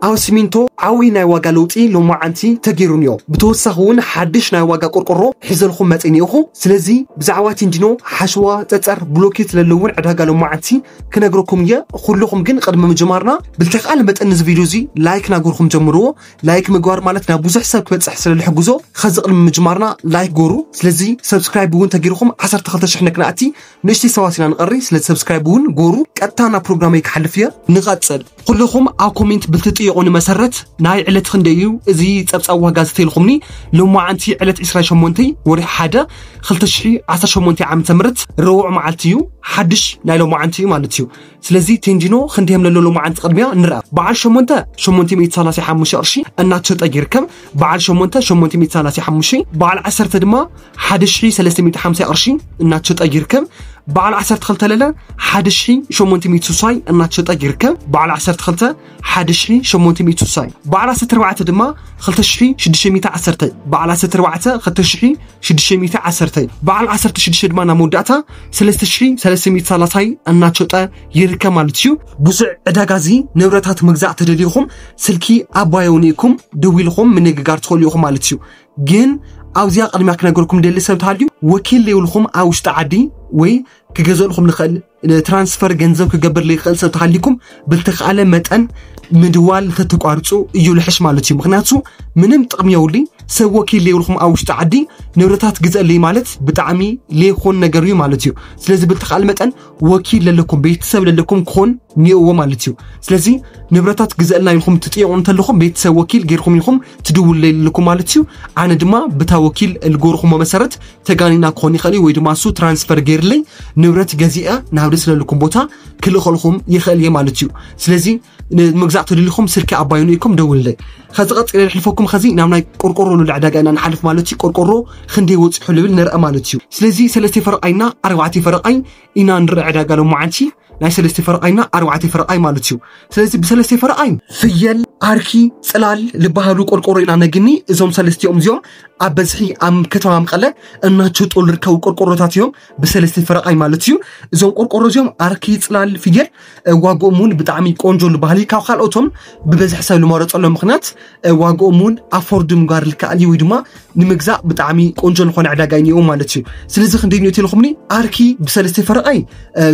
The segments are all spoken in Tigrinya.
ኣብ ሲሚንቶ ዓብይ ናይ ዋጋ ለውጢ ሎማዓንቲ ተገይሩንዮ ብተወሳኺ እውን ሓድሽ ናይ ዋጋ ቆርቆሮ ሒዘልኹም መፂኒ እኹ ስለዚ ብዛዕባ ቲንዲኖ ሓሸዋ ፀፀር ብሎኬት ለለውን ዕዳጋ ሎማዓንቲ ክነግረኩም እየ ኹልኹም ግን ቕድሚ ምጅማርና ብልተኽኣለ መጠን ንዚ ቪድዮ እዙይ ላይክ ናጎርኹም ጀምርዎ ላይክ ምግባር ማለት ናብ ብዙሕ ሰብ ክበፅሕ ስለልሕግዞ ኸዚ ቕድሚ ምጅማርና ላይክ ጎሩ ስለዚ ሰብስክራይብ እውን ተገይርኹም ዓሰርተ ክልተ ሽሕ ነክንኣቲ ንእሽተይ ሰባት ኢና ንቐሪ ስለ ሰብስክራይብ እውን ጎሩ ቀጥታ ናብ ፕሮግራመይ ክሓልፍ እየ ንቐጽል ኩልኹም ኣብ ኮሜንት ብልትጥየቑኒ መሰረት ናይ ዕለት ክንደይ እዩ እዚ ጸብጻብ ዋጋ ዝተኢልኩምኒ ሎማዓንቲ ዕለት 28 ወርሒ ሓደ 2018 ዓ ም ረቡዕ መዓልቲ እዩ ሓድሽ ናይ ሎማዓንቲ እዩ ማለት እዩ ስለዚ ቴንጂኖ ክንደይ የምለሎ ሎማዓንቲ ቅድሚያ ንርኣ በዓል ሸሞንተ ሸሞንተ ሚእቲ ሰላሳ ሓሙሽተ ቅርሺ እናተሸጠ ይርከብ በዓል ሸሞንተ ሸሞንተ ሚእቲ ሰላሳ ሓሙሽተ በዓል ዓሰርተ ድማ ሓደ ሽሒ ሰለስተ ሚእቲ ሓምሳ ቅርሺ እናተሸጠ ይርከብ በዓል ዓሰርተ ክልተ ለለ ሓደ ሽሒ ሸሞንተ ሚእቲ ስሳይ እናተሸጠ ይርከብ በዓል ዓሰርተ ክልተ 1860 በዓል ዓሰርተ ኣርባዕተ ድማ 2610 በዓል ዓሰርተ ኣርባዕተ 2610 በዓል ዓሰርተ ሽዱሽተ ድማ ናብ መወዳእታ 3330 እናሸጠ ይርከብ ማለት እዩ ብዙዕ ዕዳጋ እዚ ንብረታት ምግዛእ ተደልዩኹም ስልኪ ኣባየውን ኢኩም ደው ኢልኹም ምንግጋር ትኽእሉ ኢኹም ማለት እዩ ግን ኣብዚኣ ቅድሚያ ክነገርኩም ደሊ ሰብ ተሃልዩ ወኪል ዘይብልኩም ኣብ ውሽጢ ዓዲ ወይ ክገዘልኹም ንኽእል ትራንስፈር ገንዘብ ክገብር ዝኽእል ሰብ ተሃሊኩም ብልተኽኣለ መጠን ምድዋል ተተቋርፁ እዩ ልሕሽ ማለት እዩ ምክንያቱ ምንም ጥቕሚ የውልኝ ሰብ ወኪል ዘይብልኩም ኣብ ውሽጢ ዓዲ ንብረታት ግዘለይ ማለት ብጣዕሚ ዘይኮን ነገር እዩ ማለት እዩ ስለዚ ብልተኽኣለ መጠን ወኪል ለለኩም ቤተሰብ ለለኩም ክኾን ኒኦዎ ማለት እዩ ስለዚ ንብረታት ግዘእልና ኢልኩም ትጥየቑ እንተለኹም ቤተሰብ ወኪል ጌርኩም ኢኹም ትድውለልኩም ማለት እዩ ኣነ ድማ ብታ ወኪል ልጎርኹሞ መሰረት ተጋኒና ክኾን ይኽእል እዩ ወይ ድማ እሱ ትራንስፈር ገይርለይ ንብረት ገዚአ ናብ ደስ ለልኩም ቦታ ክልኸልኹም ይኽእል እየ ማለት እዩ ስለዚ ንምግዛእ ተደሊኹም ስልኪ ኣባይኑ ኢኩም ደውልለይ ከዚ ቀፂለ ንሕልፈኩም ከዚ ናብ ናይ ቆርቆሮ ልዑል ዕዳጋ ኢና ንሓልፍ ማለት እዩ ቆርቆሮ ክንደይ ወፂሑ ልብል ንርአ ማለት እዩ ስለዚ ሰለስተ ፈረቃይና ኣርባዕተ ፈረቃይ ኢና ንርኢ ዕዳጋ ሎማዓንቲ ናይ ሰለስተ ፈረቓይና ኣርባዕተ ፈረቓይ ማለት እዩ ስለዚ ብሰለስተ ፈረቓይ ፍየል ዓርኪ ፅላል ዝበሃሉ ቆርቆሮ ኢና ነግኒ እዞም ሰለስቲኦም እዚኦም ኣብ በዝሒ ኣብ ከተማ መቐለ እናቸጦ ዝርከቡ ቆርቆሮታት እዮም ብሰለስተ ፈረቓይ ማለት እዩ እዞም ቆርቆሮ እዚኦም ዓርኪ ፅላል ፍየል ዋግኦም እውን ብጣዕሚ ቆንጆ ዝበሃል እዩ ካብ ካልኦቶም ብበዝሒ ሰብ ዝመረፀሎም ምክንያት ዋግኦም እውን ኣፎርድ ምጓር ልከኣል እዩ ወይ ድማ ንምግዛእ ብጣዕሚ ቆንጆ ዝኾነ ዕዳጋ እኒኦ ማለት እዩ ስለዚ ክንደይ ኒኦት ኢልኹምኒ ኣርኪ ብሰለስተ ፈረቓይ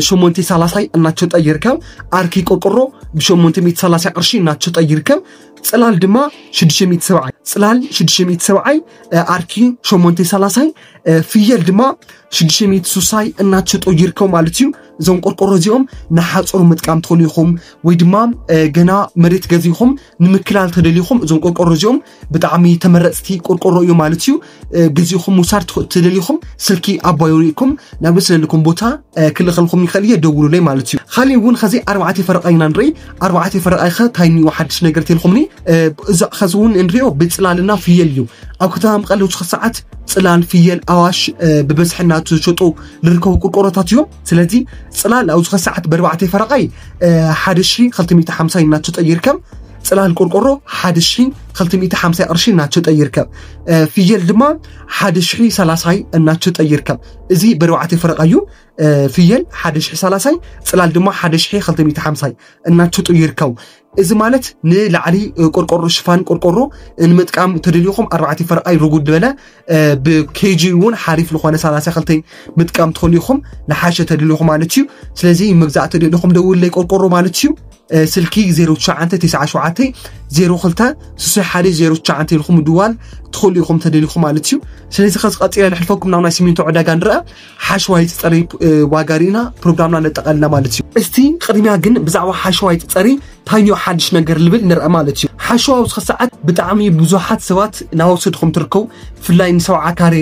ሸሞንተ ሳላሳይ እናተሸጠ ይርከብ ኣርኪ ቆርቆሮ ብሸሞንተ ሚእቲ ሳላሳ ቅርሺ እናተሸጠ ይርከብ ፅላል ድማ ሽዱሽተ ሚእቲ ሰብዓይ ፅላል ሽዱሽተ ሚእቲ ሰብዓይ ኣርኪ ሸሞንተ ሳላሳይ ፍየል ድማ ሽዱሽተ ሚእቲ ሱሳይ እናተሸጦ ይርከቡ ማለት እዩ እዞም ቆርቆሮ እዚኦም ንሓፀሩ ምጥቃም ትኽእሉ ኢኹም ወይ ድማ ገና መሬት ገዚኹም ንምክላል ተደሊኹም እዞም ቆርቆሮ እዚኦም ብጣዕሚ ተመረፅቲ ቆርቆሮ እዩ ማለት እዩ ግዜኹም ምውሳድ ተደሊኹም ስልኪ ኣባይ ሪኢኩም ናብ ስለልኩም ቦታ ክልኸልኩም ይኽእል እየ ደውሉለይ ማለት እዩ ካሊእ እውን ከዚ ኣርባዕተ ፈረቃ ኢና ንርኢ ኣርባዕተ ፈረቃ ይኸ ታይ እኒኦ ሓድሽ ነገር ተልኩምኒ እዚ ከዚ እውን እንሪኦ ብፅላልና ፍየል እዩ ኣብ ከተማ መቐለ ውስኽ ሰዓት ፅላል ፍየል ኣዋሽ ብበዝሒ እናተሸጡ ዝርከቡ ቆርቆሮታት እዮም ስለዚ ፅላል ኣብዚ ከሰዓት በርባዕተ ፈረቃይ ሓደ ሺ ክልተ ሚእቲ ሓምሳ እናተሸጠ ይርከብ ፅላል ቆርቆሮ ሓደ ሺ ክልተ ሚእቲ ሓምሳ ቅርሺ እናተሸጠ ይርከብ ፍየል ድማ ሓደ ሺ ሰላሳይ እናተሸጠ ይርከብ እዚ በርባዕተ ፈረቃዩ ፍየል ሓደ ሺ ሰላሳይ ፅላል ድማ ሓደ ሺ ክልተ ሚእቲ ሓምሳይ እናተሸጡ ይርከቡ እዚ ማለት ንላዕሊ ቆርቆሮ ሽፋን ቆርቆሮ ንምጥቃም ተደልዩኹም ኣርባዕተ ፈረቓይ ርጉድ ዝበለ ብኬጂ እውን ሓሪፍ ዝኾነ ሰላሳ ክልተ ምጥቃም ትኽእሉ ኢኹም ንሓሸ ተደልዩኹም ማለት እዩ ስለዚ መግዛእ ተደልዩኹም ደውለይ ቆርቆሮ ማለት እዩ ስልኪ 0997 02 61 09 ኢልኩም ምድዋል ትኽእሉ ኢኹም ተደልዩኹም ማለት እዩ ስለዚ ከዚ ቀፂለ ንሕልፈኩም ናብ ናይ ሲሚንቶ ዕዳጋ ንረአ ሓሽዋይ ትጸሪ ዋጋ ርኢና ፕሮግራምና ነጠቐልና ማለት እዩ እስቲ ቅድሚያ ግን ብዛዕባ ሓሽዋይ ትጸሪ ታዮ ሓድሽ ነገር ልብል ንርአ ማለት እዩ ሓሽዋ ውስኺ ሰዓት ብጣዕሚ ብዙሓት ሰባት ናወሰድኹም ትርከቡ ብፍላይ ንሰብዓ ካሬ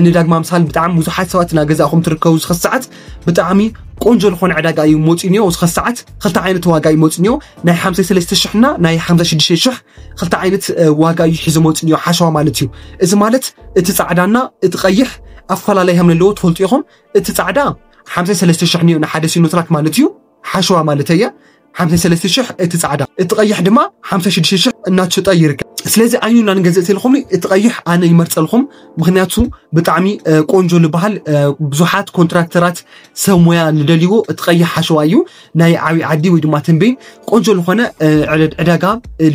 ንዳግማ ምሳል ብጣዕሚ ብዙሓት ሰባት ናገዛእኹም ትርከቡ ውስኺ ሰዓት ብጣዕሚ ቆንጆ ዝኾነ ዕዳጋ እዩ መፂኡ ኒኦ ውስኺ ሰዓት ክልተ ዓይነት ዋጋ እዩ መፂኡ ኒኦ ናይ ሓምሳ ሰለስተ ሽሕና ናይ ሓምሳ ሽዱሽተ ሽሕ ክልተ ዓይነት ዋጋ እዩ ሒዞ መፅኡ እኒኦ ሓሸዋ ማለት እዩ እዚ ማለት እቲ ፃዕዳና እቲ ቀይሕ ኣፈላለይ ከም ዘለዎ ትፈልጡ ኢኹም እቲ ፃዕዳ ሓምሳ ሰለስተ ሽሕ እኒኦ ንሓደ ሲኖትራክ ማለት እዩ ሓሸዋ ማለት እየ ሓምሳ ሰለስተ ሽሕ እቲ ፃዕዳ እቲ ቀይሕ ድማ ሓምሳ ሽዱሽተ ሽሕ እናተሸጠ ይርከብ ስለዚ ኣዩ ኢና ንገዝእ ተልኹም እቲ ቀይሕ ኣነ ይመርፀልኹም ምክንያቱ ብጣዕሚ ቆንጆ ዝበሃል ብዙሓት ኮንትራክተራት ሰብ ሙያ ዝደልይዎ እቲ ቀይሕ ሓሸዋ እዩ ናይ ዓብዪ ዓዲ ወይ ድማ ተንቤን ቆንጆ ዝኾነ ዕዳጋ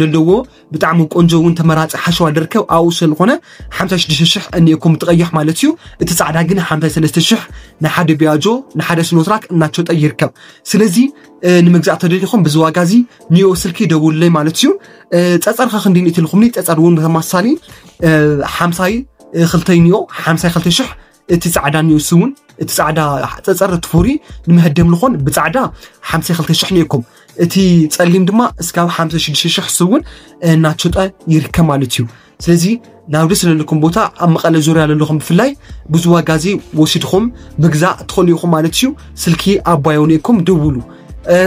ዘለዎ ብጣዕሚ ቆንጆ እውን ተመራፂ ሓሸዋ ደርከብ ኣብኡ ስለዝኾነ ሓምሳ ሽዱሽተ ሽሕ እኒኤኩም ትቐይሕ ማለት እዩ እቲ ፃዕዳ ግን ሓምሳ ሰለስተ ሽሕ ንሓደ ቢያጆ ንሓደ ስኖትራክ እናተሸጠ ይርከብ ስለዚ ንምግዛእ ተደሊኹም ብዚ ዋጋ እዚ ኒዮ ስልኪ ደውለይ ማለት እዩ ፀፀር ከ ክንዲ ንእትልኩምኒ ፀፀር እውን ብተመሳሳሊ ሓምሳይ ክልተይ ኒዮ ሓምሳይ ክልተ ሽሕ እቲ ፃዕዳ ኒውስ እውን እቲ ፃዕዳ ፀፀር እቲ ፍሩይ ንመሀደም ልኾን ብፃዕዳ 52 ሽሕ ነይኩም እቲ ፀሊም ድማ እስካብ 56 ሽሕ ስውን እናሸጠ ይርከብ ማለት እዩ ስለዚ ናብዲ ስለለኩም ቦታ ኣብ መቐለ ዙርያ ዘለኹም ብፍላይ ብዙ ዋጋ እዚ ወሲድኹም ምግዛእ ትኽእሉ ኢኹም ማለት እዩ ስልኪ ኣባዮ ነይኩም ደውሉ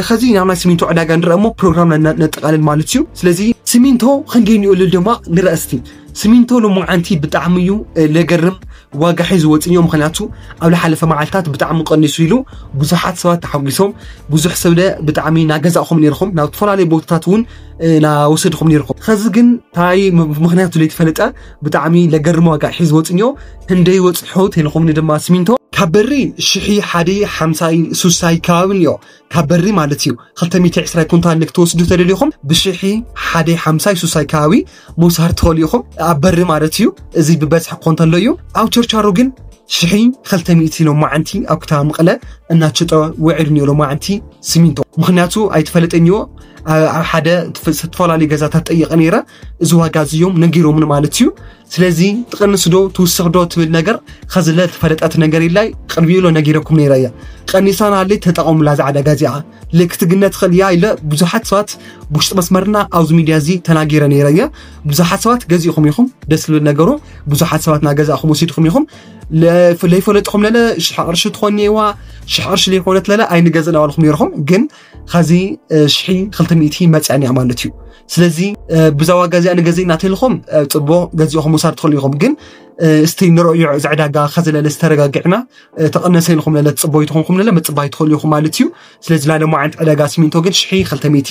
ከዚ ናብ ናይ ሲሚንቶ ዕዳጋ ንረአ እሞ ፕሮግራም ነጠቃልል ማለት እዩ ስለዚ ሲሚንቶ ክንደይ ንእልል ድማ ንረእስቲ ስሚንቶ ሎማዓንቲ ብጣዕሚ እዩ ለገርም ዋጋ ሒዙ ወፅዮ ምክንያቱ ኣብ ዝሓለፈ መዓልታት ብጣዕሚ ቀኒሱ ኢሉ ብዙሓት ሰባት ተሓጒሶም ብዙሕ ሰብለ ብጣዕሚ ናገዛእኹም ነርኹም ናብ ዝተፈላለዩ ቦታታት እውን ናወሰድኹም ነርኩም ኸዚ ግን ታይ ምክንያቱ ዘይተፈለጠ ብጣዕሚ ለገርም ዋጋ ሒዙ ወፅዮ ክንደይ ወፅሑ ተልኹምኒ ድማ ስሚንቶ ካብ በሪ ሽሒ ሓደ ሓምሳይ ሱሳይ ከባቢ እዮ ካብ በሪ ማለት እዩ ክልተ ሚእቲ ዕስራ ኩንታል ንክትወስዱ ተደሊኹም ብሽሒ ሓደ ሓምሳይ ሱሳይ ከባቢ ምውሳድ ትኸእሉ ኢኹም ኣብ በሪ ማለት እዩ እዚ ብበዝሒ ክኾን ተሎ እዩ ኣብ ቸርቻሮ ግን ሽሒ ክልተ ሚእቲ ሎማዓንቲ ኣብ ክታ ምቕለ እናቸጠ ውዒሉ እኒኦ ሎማዓንቲ ሲሚንቶ ምክንያቱ ኣይተፈለጠን እዮ ኣብ ሓደ ዝተፈላለዩ ገዛታት ጠይቐ ነይረ እዚ ዋጋ እዚዮም ነጊሮምን ማለት እዩ ስለዚ ትቐንስ ዶ ትውስኽ ዶ ትብል ነገር ኸዝለ ዝፈለጠት ነገር ኢላይ ቅድሚኡ ኢሎ ነጊረኩም ነይረ እያ ቀኒሳና ኣለ ተጠቐሙላ እዛ ዕዳጋ እዚኣ ልክትግነ ትኽእል እያ ኢለ ብዙሓት ሰባት ብውሽጢ መስመርና ኣብዚ ሚድያ እዚ ተናጊረ ነይረ እያ ብዙሓት ሰባት ገዚእኹም ኢኹም ደስ ዝብል ነገሩ ብዙሓት ሰባት ናገዛእኹም ወሲድኹም ኢኹም ለይፈለጥኹም ለለ ሽሕ ቅርሺ ትኾን እዋ ሽሕ ቅርሺ ዘይኮነት ለለ ኣይንገዝእ ናበልኹም ነይርኹም ግን ኸዚ ሽሒ ክልተ ሚእቲ መፅዐን እያ ማለት እዩ ስለዚ ብዛ ዋጋ እዚኣ ንገዘ እናተልኹም ፅቦ ገዚኦኹም ውሳድ ትኽእሉ ኢኹም ግን እስቲ ንረእዮ እዚ ዕዳጋ ከዘለለ ዝተረጋግዕና ተቐነሰ ኢልኹም ለለ ፅቦ ይትኾንኩም ለለ ምፅባይ ትኽእሉ ኢኹም ማለት እዩ ስለዚ ላለሞ ዓይነት ዕዳጋ ሲሚንቶ ግን ሽሒ ክልተ ሚእቲ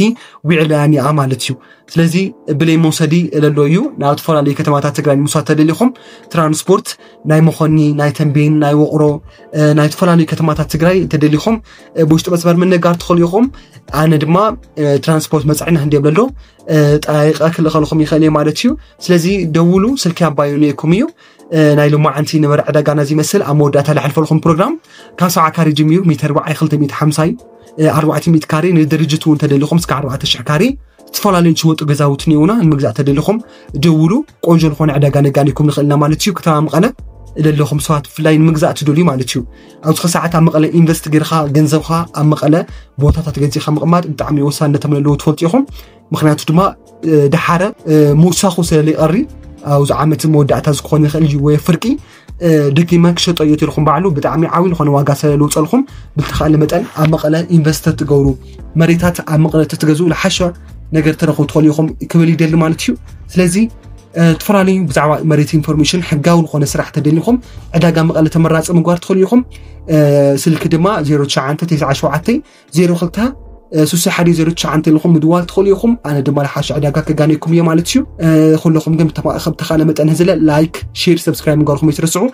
ዊዕላያን እያ ማለት እዩ ስለዚ ብለይ መውሰዲ ለሎ እዩ ናብ ዝተፈላለዩ ከተማታት ትግራይ ንምውሳድ ተደሊኹም ትራንስፖርት ናይ መኾኒ ናይ ተንቤን ናይ ወቕሮ ናይ ዝተፈላለዩ ከተማታት ትግራይ ተደሊኹም ብውሽጢ መስመር ምንጋር ትኽእሉ ኢኹም ኣነ ድማ ትራንስፖርት መፅዕና እንደ ብለሎ ጠራሪቀ ክልኸልኹም ይኽእል እየ ማለት እዩ ስለዚ ደውሉ ስልኪ ኣባዩ ነይኩም እዩ ናይ ሎማዓንቲ ነበረ ዕዳጋ ናዚ ይመስል ኣብ መወዳእታ ዝሓልፈልኩም ፕሮግራም ካብ ሰብዓ ካሬ ጀሚሩ ሚተር በዓይ 250 እዩ ኣርባዕተ ሚእቲ ካሬ ንድርጅት እውን ተደሊኹም እስከ ኣርባዕተ ሽሕ ካሬ ዝተፈላለዩ ዝወጡ ገዛውቲ እኒውና ንምግዛእ ተደሊኹም ደውሉ ቆንጆ ዝኾነ ዕዳጋ ነጋኒኩም ንኽእልና ማለት እዩ ከተማ መቐለ ዘለኹም ሰባት ብፍላይ ንምግዛእ ትደልዩ ማለት እዩ ኣብዚ ሕዚ ሰዓት ኣብ መቐለ ኢንቨስት ጌርካ ገንዘብካ ኣብ መቐለ ቦታታት ገዚእካ ምቕማጥ ብጣዕሚ ወሳንነት ኣለዎ ትፈልጡ ኢኹም ምክንያቱ ድማ ድሓረ ምውሳኹ ስለ ዘይቐሪ ኣብዚ ዓመት መወዳእታ ዝኮነ ይኽእል እዩ ወይ ፍርቂ ደጊመ ክሸጦ እየ ትልኩም ባዕሉ ብጣዕሚ ዓብዪ ዝኾነ ዋጋ ስለ ዝውፀልኩም ብዝተኻእለ መጠን ኣብ መቐለ ኢንቨስት ትገብሩ መሬታት ኣብ መቐለ ተትገዝኡ ዝሓሸ ነገር ትረኽቡ ትኽእሉ ኢኹም ክብል ይደሊ ማለት እዩ ስለዚ እተፈላለዩ ብዛዕባ መሬት ኢንፎርሜሽን ሕጋዊ ዝኾነ ስራሕ ተደሊኹም ዕዳጋ መቐለ ተመራፂ ምግባር ትኽእሉ ኢኹም ስልኪ ድማ 099702 ሱሳ ሓደ ዘሮ ትሽዓንተ ኢልኹም ምድዋል ትኽእሉ ኢኹም ኣነ ድማ ልሓሽ ዕዳጋ ከጋነየኩም እየ ማለት እዩ ኩለኹም ግን ከም ተኻእለ መጠን ህዝለ ላይክ ሼር ሰብስክራይብ ምግባርኩም ኣይትረስዑ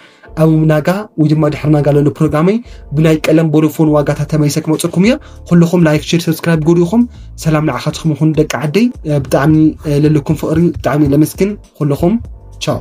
ኣብ ምናጋ ወይ ድማ ድሕሪ ናጋ ለሎ ፕሮግራመይ ብናይ ቀለም ቦዶፎን ዋጋታት ተመሊሰ ክመፀኩም እየ ኩልኹም ላይክ ሼር ሰብስክራይብ ጎዲኹም ሰላም ንዓኻትኩም ይኹን ደቂ ዓደይ ብጣዕሚ ለለኩም ፍቕሪ ብጣዕሚ ለመስግን ኩልኹም ቻው